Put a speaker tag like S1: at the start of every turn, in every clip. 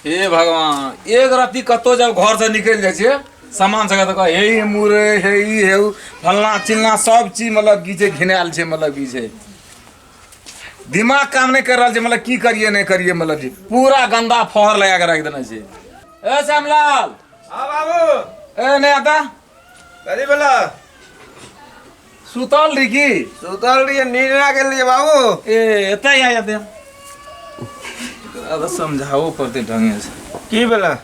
S1: हे भगवान एक राति कतौ जब घर से निकल जाए छे सामान सके तो हे ई मुरे हे ई हे उ, फलना चिलना सब चीज मतलब की छै घिनायल छै मतलब की छै दिमाग काम नहीं कर रहल छै मतलब की करिए नहीं करिए मतलब जी पूरा गंदा फहर लगा के रख देने छै ए श्यामलाल हाँ बाबू ए नहीं आता अरे बोला सुतल रही की सुतल रही नींद ना गेल रही बाबू ए एतै आ जाते अब समझाओ पड़ते ढंगे से की बोला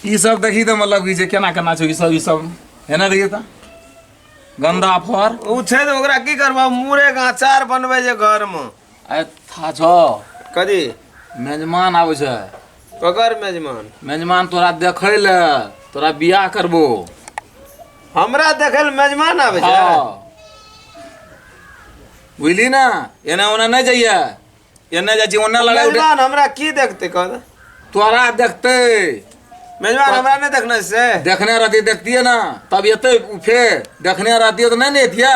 S1: ई सब देखी तो मतलब कि जे केना केना छै ई सब ई सब है ना देखिए तो गंदा फर ओ छै तऽ ओकरा की करबा मुरे का अचार बनबै जे घर में आ था छो कथी मेजमान आबै छै ककर मेजमान मेजमान तोरा देखै ले तोरा बियाह करबो हमरा देखै ले मेजमान आबै छै हाँ। बुझली ना एने ओने नहीं जाइए एने जाइ छी ओने लड़ाई उठे मेजमान हमरा की देखते कह दे तोरा देखते मेजमान हमरा नहीं देखना से देखने रहती देखतिए ना तब एते उ फेर देखने रहती तो नहीं ने एतिए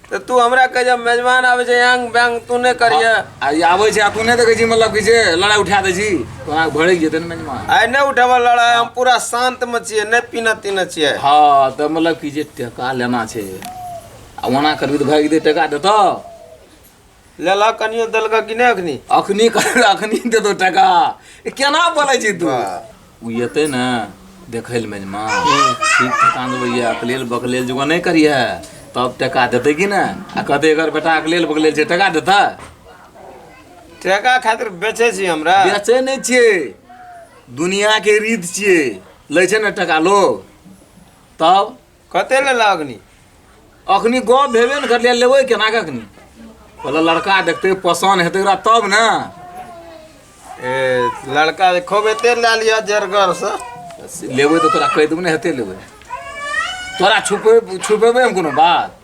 S1: तऽ तू हमरा कह जब मेजबान आबै छै यांग बैंग तू नहि करिए आ ई आबै छै आ तू नहि देखै छी मतलब कि जे लड़ाइ उठा दै छी तोरा भड़क जेतै ने मेजबान आइ नहि उठेबऽ लड़ाइ हम पूरा शान्तमे छियै नहि पीना तीना छियै हँ तऽ मतलब कि जे टका लेना छै आ ओना करबी तऽ भागि दे टका देतऽ लेला कनियो देलका कि नहि अखनी अखनी कर अखनी देतो टका ए, केना बोलै छी तू उ एतै ने देखै लए मेजमा ठीक ठकान भैया अकलेल बकलेल जुगा नहि करिहे तब टका देतै कि ने आ कहतै अगर बेटा अकलेल बकलेल छै टका देतै ठेका खातिर बेचे छी हमरा बेचै नहि छियै दुनियाके रीत छियै लै छै ने टका लोग तब कते ले लगनी अखनी गप भेबे ने करलियै लेबै केना के अखनी पहिले लड़का देखते पसन्द हेतै ओकरा तब ने ए लड़का जे खूब एते लए लिअ जरगर से लेबै तऽ तोरा कहि देबै ने हेतै लेबै तोरा छुपे छुपेबै हम कोनो बात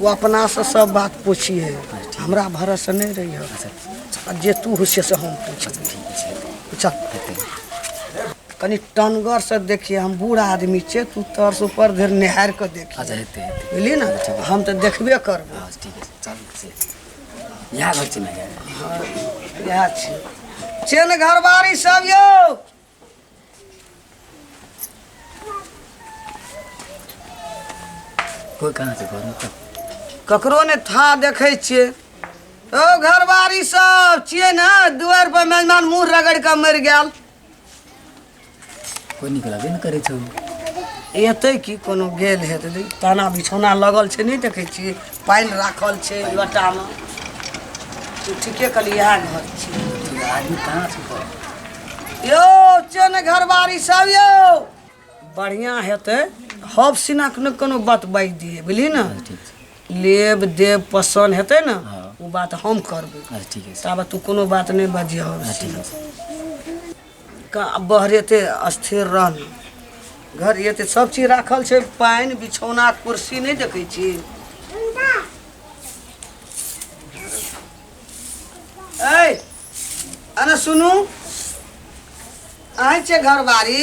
S1: ओ अपना से सब बात पूछिए हमरा भरोसे नहीं रही हो आ जे तू होशिए से हम पूछब चल कनी टनगर से देखिए हम बूढ़ आदमी छे तू तर से ऊपर धर निहार के देखिए अच्छा हेतै हेतै बुझलिए ना हम तो देखबे करब हँ ठीक छै चलू से इएह घर छै ने इएह छै चेन घरबारी सब यौ कोई कहाँ से घर में कब ककरो ने था देखै छियै ओ घरवारी सब छियै ने दुआर पर मेहमान मुंह रगड़ के मरि गेल कोई निकलबे न करे छौ एतै की कोनो गेल हेतै ताना बिछौना लगल छै नहि देखै छियै पानि राखल छै लोटामे तू ठीके कहली इएह घर छै आदमी कहाँ छै यौ चेन घरबारी सब यौ बढ़िआँ हेतै हब सिनाक ने कोनो बात बाजि दिए बुझली ने लेब देब पसन्द हेतै ने ओ बात हम करबै ताबत तू कोनो बात नहि बजिह का बहरे एते अस्थिर रहना घर ये ते सब चीज राखल छै पानि बिछौना कुर्सी नहि देखै छी ऐ अरे सुनू अहाँ छै घरबारी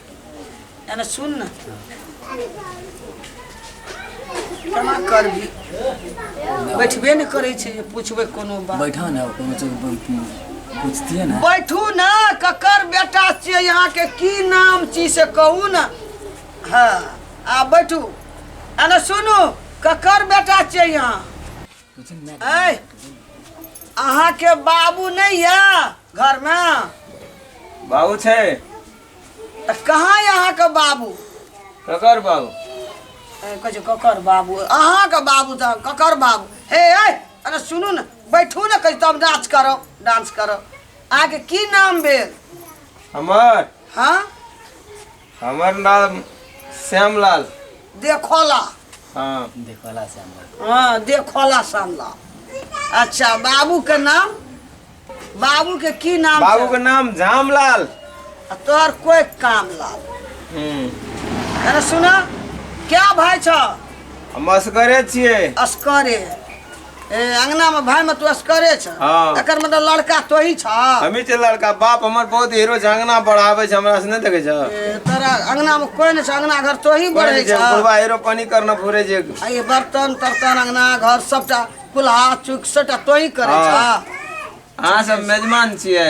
S1: एने सुन न केना करबी बैठबे ने करै छै जे पुछबै कोनो बात बैठा ना कोनो चीज पूछतिए ना बैठू ना ककर बेटा छियै अहाँके की नाम छी से कहू ने हँ आ बैठू एने सुनू ककर बेटा छियै अहाँ ऐ अहाँके बाबू नहि यऽ घरमे बाबू छै तऽ कहाँ यऽ अहाँके बाबू ककर बाबू ए, कहै छै ककर बाबू अहाँके बाबू तऽ ककर बाबू हे ऐ अरे सुनू ने बैठू ने कहीं तब डांस करो डांस करो अहाँके की नाम भेल हमर हाँ हमर नाम श्यामलाल देखोला हाँ देखला से हमरा हाँ देखोला सामला अच्छा बाबू के नाम बाबू के की नाम बाबू छै? के नाम झामलाल आ तोहर कोई काम लाल हम्म अरे सुना क्या भाई छ हम असगरे छियै असकरे ए अंगना में भाई में तू असकरे छ हाँ। एकर मतलब लड़का तो ही छ हमी ते लड़का बाप हमर बहुत हीरो झंगना बढ़ावे छै हमरा से नहीं देखे छ ए, तोरा अंगना में कोई नहीं छ अंगना घर तो ही बढ़े छ बुढ़वा हीरो पानी करना फुरे जे आ ये बर्तन तर्तन अंगना घर सबटा कुल्हा चुक सबटा तो ही करे छ हाँ। अहाँ सब मेजमान छियै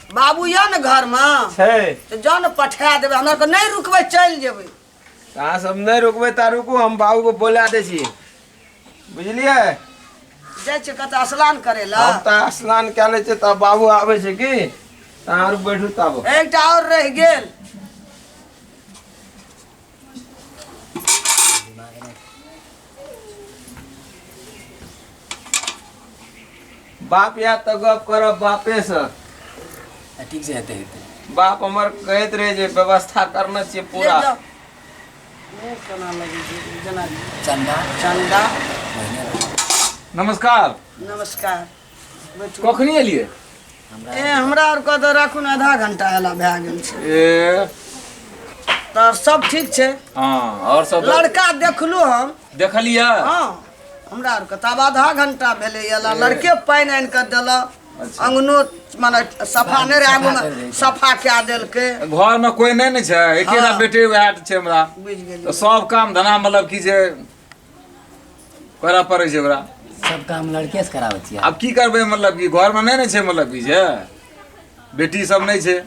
S1: बाबू यऽ ने घरमे छै तऽ जाउ ने पठा देबै हमरा आरके नहि रुकबै चलि जेबै अहाँ सब नहि रुकबै ता रुकू हम बाबू को बोला दै छी बुझलियै जाइ छियै कतऽ स्नान करै लए हम तऽ स्नान कए लै छियै तब बाबू आबै छै की तऽ अहाँ आर बैठू तब एकटा आओर रहि गेल बाप या तऽ गप करब बापे से आ, ठीक से हेतै हेतै बाप हमर कहैत रहे जे व्यवस्था करने छियै पूरा चंदा चंदा नमस्कार नमस्कार कखनी एलियै ए हमरा आर कऽ तऽ राखू ने आधा घंटा एला भए गेल छै ए तऽ सब ठीक छै हँ आओर सब लड़का देखलू हम देखलियै हँ हमरा आर के तब आधा घंटा भेलै एला लड़के पानि आनि कऽ देलक अंगनो मने सफा नहि रहै आगूमे सफा कए देलकै घरमे कोइ नहि ने छै एकेटा हँ। बेटे वएह छै हमरा बुझि गेलियै तऽ सब काम धना मतलब कि जे करऽ पड़ै छै ओकरा सब काम लड़के से कराबै छियै आब की करबै मतलब कि घरमे नहि ने छै मतलब कि जे बेटी सब नहि छै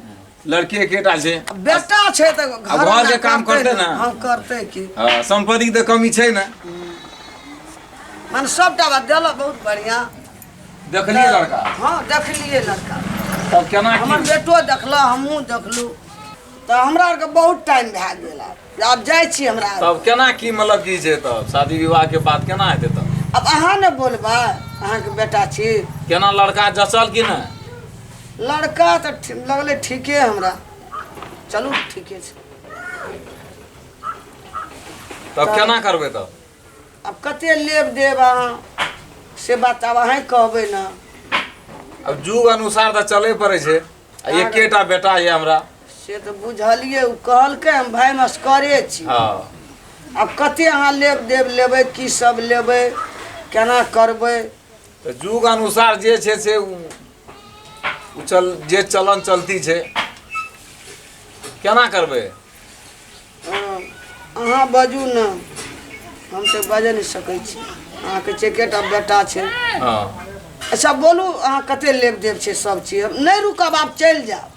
S1: लड़की एकेटा छै बेटा छै तऽ आ घर घर जे काम करतै ने। हँ करतै की हँ, सम्पत्तिके तऽ कमी छै ने मने सबटा बात देलक बहुत बढ़िया देखलियै लड़का हँ देखलियै लड़का तब केना हमर की बेटो देखलक हमहूँ देखलहुँ तऽ हमरा आरके बहुत टाइम भए गेल आब आब जाइ छी हमरा तब केना की मतलब की छै तब शादी विवाह के बात केना हेतै तब अब अहाँ ने बोलबा अहाँ के बेटा छी केना लड़का जचल कि ने लड़का तो लगले ठीके हमरा चलू ठीके छै तब केना करबै तब अब कते लेब देब अहाँ से बात अब अहें कहबै ना अब जुग अनुसार तऽ चले पड़ै छै आ एकेटा बेटा ये हमरा से तऽ बुझलियै ओ कहलकै हम भाय मस्करे छी हँ आब कते अहाँ लेब देब लेबै की सब लेबै केना करबै तऽ युग अनुसार जे छै से उ उ चल जे चलन चलती छै केना करबै अहाँ बाजू ने हम तऽ बाजऽ नहि सकै छी अहाँके छै एकेटा बेटा छै हँ अच्छा बोलू अहाँ कते लेब देब छै सब चीज हम नहि रुकब आब चलि जायब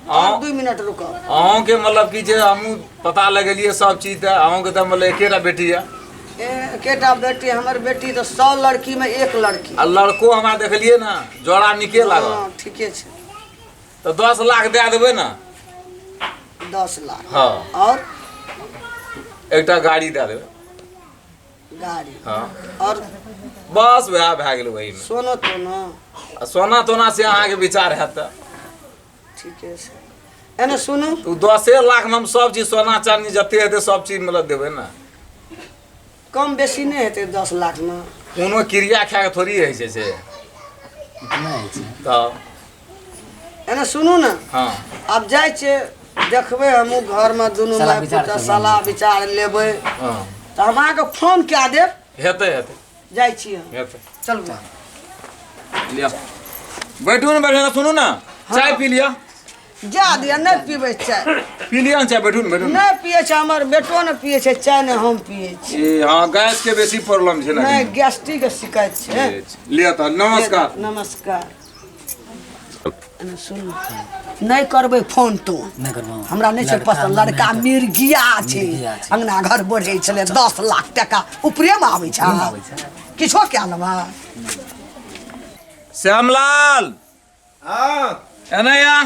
S1: और अहाँ- दू मिनट रुकब अहूँके मतलब की छै हमहूँ पता लगेलियै सब चीज तऽ अहूँके तऽ मतलब एकेटा बेटी यऽ ए, एकेटा बेटी हमर बेटी तऽ सौ लड़की में एक लड़की आ लड़को हमरा देखलियै ने जोड़ा नीके लागल हँ ठीके छै तो दस लाख दे देबे ना दस लाख हाँ और एकटा गाड़ी दे देबे गाड़ी हाँ और बस वएह भए गेल वही में सोनो तो ना आ सोना तोना से अहाँके विचार हैत तऽ ठीके छै एने सुनू तऽ ओ दसे लाखमे हम सब चीज सोना चानी जते हेतै सब चीज मतलब देबै ने कम बेसी नहि हेतै दस लाखमे कोनो क्रिया खा कऽ थोड़ी रहै छै से तब एने सुनू ने हँ आब जाइ छियै देखबै हमहूँ घरमे दुनू माय पुतके सलाह विचार लेबै हँ तऽ हम अहाँके फोन कए देब हेतै हेतै जाइ छी हम हेतै चलू लिअ बैठू ने बैठू ने सुनू ने चाय पी लिअ जा दिया नहि पीबै चाय पी लिअ ने चाय बैठू ने बैठू ने नहि पिए छै हमर बेटो ने पिए छै चाय ने हम पिए छी ए, हाँ गैस के बेसी प्रॉब्लम छै नहि ना गैस्ट्रिक के शिकायत छै लिअ तऽ नमस्कार नमस्कार एने सुन नहि करबै फोन तो नहि करबौ हमरा नहि छै लड़का पसन्द हमरा लड़का नहि मिर्गिया छै मिर्गिया छै। अंगना घर बढ़ै छलै दस लाख टाका उपरेमे आबै छै आबै छै। किछो कए लेबा श्यामलाल हाँ एने या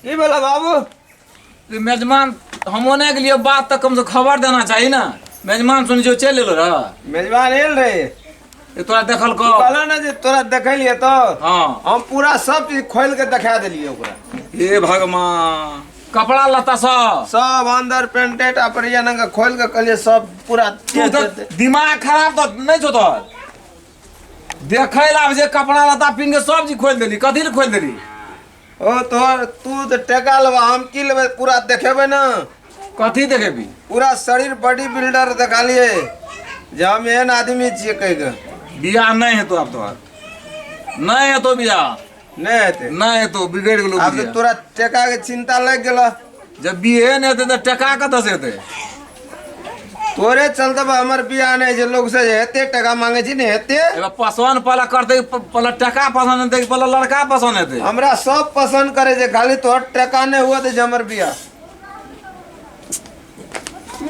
S1: की भेला बाबू कि मेजमान हम ओने के लिए बात तक कम से खबर देना चाहिए ना मेजमान सुन जो चल एलो रह मेजबान एल रहे ये तोरा देखल को कहला ना जे तोरा देखे लिए तो हाँ हम पूरा सब चीज खोल के दिखा दिलिए ओकरा हे भगवान कपड़ा लता सब सब अंदर पेंटेट अपरिया नंगा खोल के कहलिए सब पूरा तू तो दिमाग खराब तो नहीं छो तोहर देखै लए आबै छै कपड़ा लत्ता पिन्ह के सब चीज खोलि देली कथी लए खोलि देली ओ तोहर तू तऽ टेका लेबा हम की लेबै पूरा देखेबै ने कथी देखेबी पूरा शरीर बॉडी बिल्डर देखालिए जे हम एहन आदमी छियै कहि कऽ बियाह नहि हेतो आब तोहर नहि हेतो बियाह नहि हेतै नहि हेतौ बिगड़ि गेलो आब तऽ तोरा टका के चिन्ता लागि गेल जब बिहे नहि हेतै तऽ टका कतऽ से हेतै तोरे चलते हमर बियाह नहि छै लोग से हेते टका मांगे छी ने हेते एगो पसंद पहले करते पहले टका पसंद हेतै कि पहले लड़का पसंद हेतै हमरा सब पसंद करे छै खाली तोहर टका नहि हुआ तऽ हमर बियाह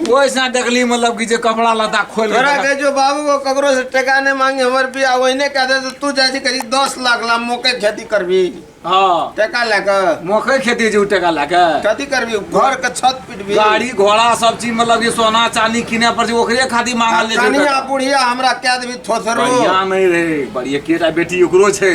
S1: वैसा डगली मतलब कि जे कपड़ा लता खोल तोरा के जो बाबू को ककरो से टका नहीं मांगे हमर बिया ओहिने कह दे तो तू जाय छी करी 10 लाख ला मोके खेती करबी हां टका लेके मोके खेती जे टका लेके खेती करबी घर के छत पिटबी गाड़ी घोड़ा सब चीज मतलब ये सोना चांदी किने पर जे ओकरे खातिर मांगल ले छै चांदी आ बुढ़िया हमरा कह देबी थोथरो बढ़िया नहीं रे बढ़िया केटा बेटी ओकरो छै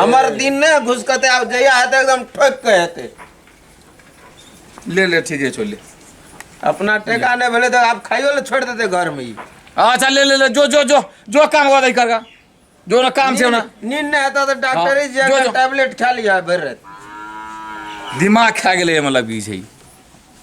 S1: हमर दिन नहि घुसकते आब जहिया हेतै एकदम ठोक के हेतै ले ले ठीके छौ ले अपना टेका नहि भेलै तऽ आब खाइयो ले छोड़ि देतै घरमे ई अच्छा ले ले ले जो जो जो जो काम हुआ दही करगा जो ना काम छौ ना नींद नहि हेतौ तऽ डॉक्टरे हाँ, जे जो, जो। टैबलेट खा लिया भरि राति दिमाग खा गेलै मतलब ई छै